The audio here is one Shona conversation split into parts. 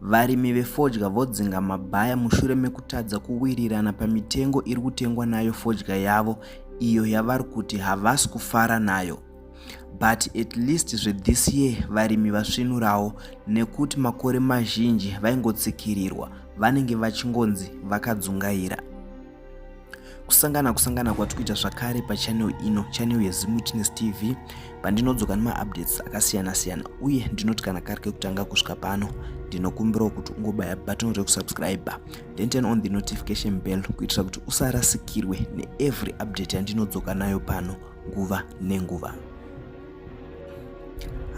Varimi vefodya vodzinga mabhaya mushure mekutadza kuwirirana pamitengo iri kutengwa nayo fodya yavo iyo yavari kuti havasi kufara nayo. But at least zvethis year varimi vasvinurawo nekuti makore mazhinji vaingotsikirirwa vanenge vachingonzi vakadzungaira. kusangana kusangana kwati kuita zvakare pachanel ino chanel yezimutines tv pandinodzoka nemaupdates akasiyana siyana uye ndinoti kana kari kekutanga kusvika pano ndinokumbirawo kuti ungobaya button rekusubscribe then turn on the notification bell kuitira kuti usarasikirwe neevery update yandinodzoka nayo pano nguva nenguva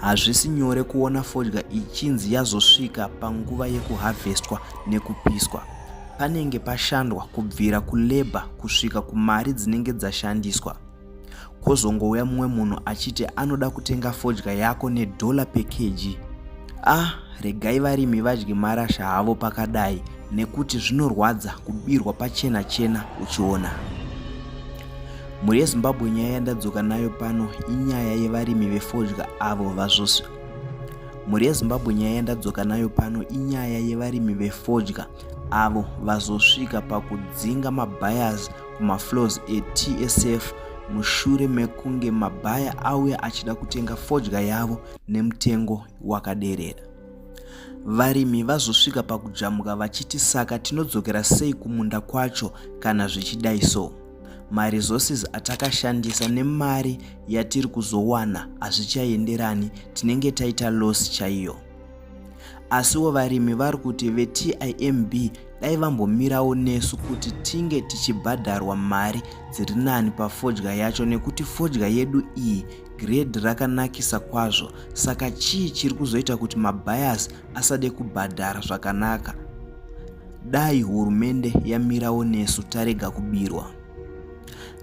Hazvisi nyore kuona fodya ichinzi yazosvika panguva yekuhavhestwa nekupiswa. Panenge pashandwa kubvira kulebha kusvika kumari dzinenge dzashandiswa. Kwozongouya mumwe munhu achiti anoda kutenga fodya yako nedhola pekeji. Ah, regai varimi vadye marasha havo pakadai nekuti zvinorwadza kubirwa pachena chena uchiona. Mhuri yeZimbabwe nyaya yandadzoka nayo pano inyaya yevarimi vefodya avo vazvosvi. Mhuri yeZimbabwe nyaya yandadzoka nayo pano inyaya yevarimi vefodya avo vazosvika pakudzinga mabayers kumafloors eTSF mushure mekunge mabhaya auya achida kutenga fodya yavo nemutengo wakaderera. varimi vazosvika pakujamuka vachiti saka tinodzokera sei kumunda kwacho kana zvichidai so maresources atakashandisa nemari yatiri kuzowana hazvichaenderani tinenge taita loss chaiyo asiwo varimi vari kuti vetimb dai vambomirawo nesu kuti tinge tichibhadharwa mari dziri nani pafodya yacho nekuti fodya yedu iyi Grade rakanakisa kwazvo saka chii chiri kuzoita kuti mabias asade kubhadhara zvakanaka? Dai hurumende yamirawo nesu tarega kubirwa.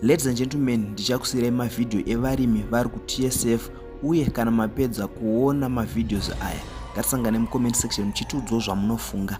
Ladies and gentlemen, ndichakusirai mavhidhiyo evarimi vari kuTSF uye kana mapedza kuona mavhidhios aya ngatisangane mucomment section muchitiudzawo zvamunofunga.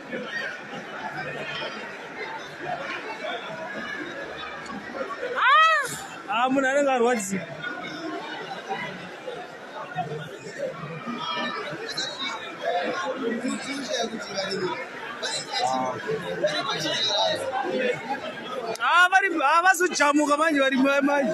Ah, munhu anenge arwadzika Ah, vari ah, vazojamuka manje vari mai manje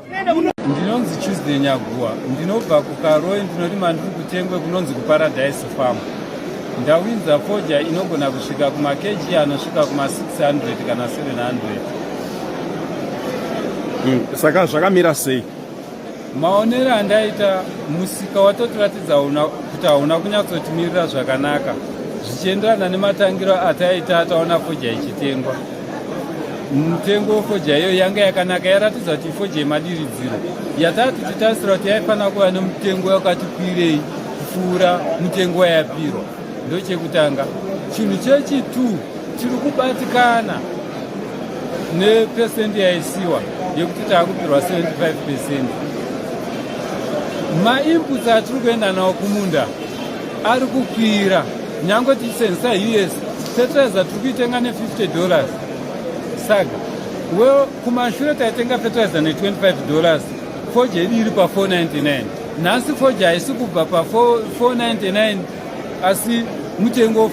ndinonzi tuesday nyaguwa ndinobva kukaroi ndinorima ndiri kutengwe kunonzi kuparadise farm ndawinza fodya inogona kusvika kumakeji anosvika kuma600 kana 700 hmm, saka zvakamira sei maonero andaita musika watotiratidza kuti hauna kunyatsotimirira zvakanaka zvichienderana nematangiro ataita ataona fodya ichitengwa mutengo wefodya iyoyo yanga yakanaka yaratidza kuti ifodya yemadiridziro yatava tichitarisira kuti yaifanira kuva nemutengo wakati kwirei kupfuura mutengo wayapirwa ndochekutanga chinhu chechitu tiri kubatikana nepesendi yaisiwa yekuti taakupirwa 75 pesendi mainputs atiri kuenda nawo kumunda ari kukwira Nyangwe tichisenzesa us fertilizer tiri kuitenga ne50 dollars saga well kumashure taitenga fertilizer ne25 dollars foja yedu iri pa499 nhasi foja haisi kubva pa499 asi mutengo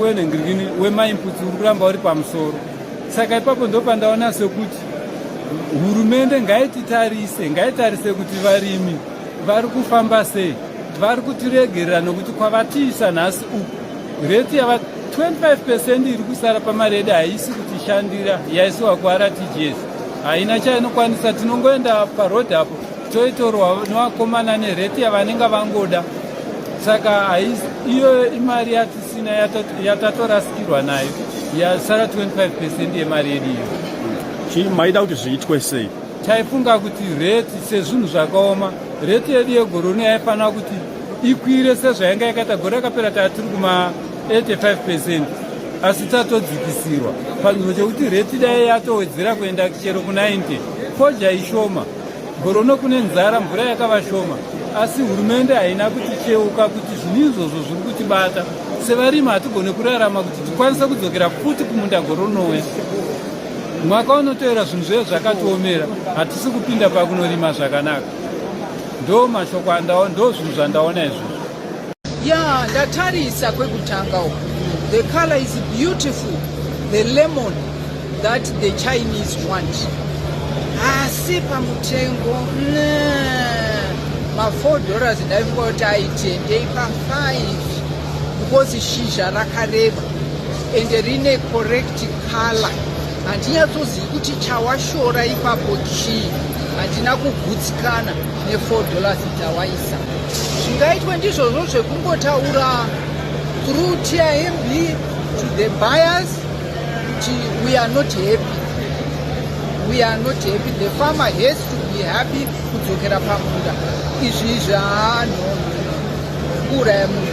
wenhengirikini wemainputs uri kuramba uri pamusoro saka ipapo ndopandaona sekuti hurumende ngaititarise ngaitarise kuti varimi vari kufamba sei vari kutiregerera nokuti kwavatiisa nhasi uku reti yava 25 percent iri kusara pamaredi haisi kutishandira yaisiwa kuRTGS haina chainokwanisa tinongoenda paroad apo toitorwa nevakomana nereti yavanenge vangoda saka iyoyo imari yatisina yatatorasikirwa nayo yasara 25 percent yemari yedu iyo chii maida kuti zviitwe sei Taifunga kuti reti sezvinhu zvakaoma, reti yedu yegoroni yaifanira kuti ikwire sezvayanga yakaita gore rakapera taa tiri kuma 85 percent asi tatodzikisirwa panzvimbo chekuti reti dai yatowedzera kuenda chero ku90 fodya ishoma gorono kune nzara mvura yakava shoma asi hurumende haina kuticheuka kuti zvinhu izvozvo zviri kutibata sevarimi hatigone kurarama kuti tikwanise kudzokera futi kumunda goronoya Mwaka unotoera zvinhu zviye zvakatiomera, hatisi kupinda pakunorima zvakanaka. Ndo mashoko andaona, ndo zvinhu zvandaona izvozvo. Ya, ndatarisa kwekutanga uko. The color is beautiful. The lemon that the Chinese want. Asi pamutengo, ma 4 dollars ndaifunga kuti aitendei pa 5 because shizha rakareba and rine corrective Kala handinyatsozivi kuti chawashora ipapo chii handina kugutsikana ne4 dollars dzawaisa zvingaitwe ndizvozvo zvekungotaura through timb to the buyers kuti we are not happy we are not happy the farmer has to be happy kudzokera pamunda izvi izvi haano kuuraya munhu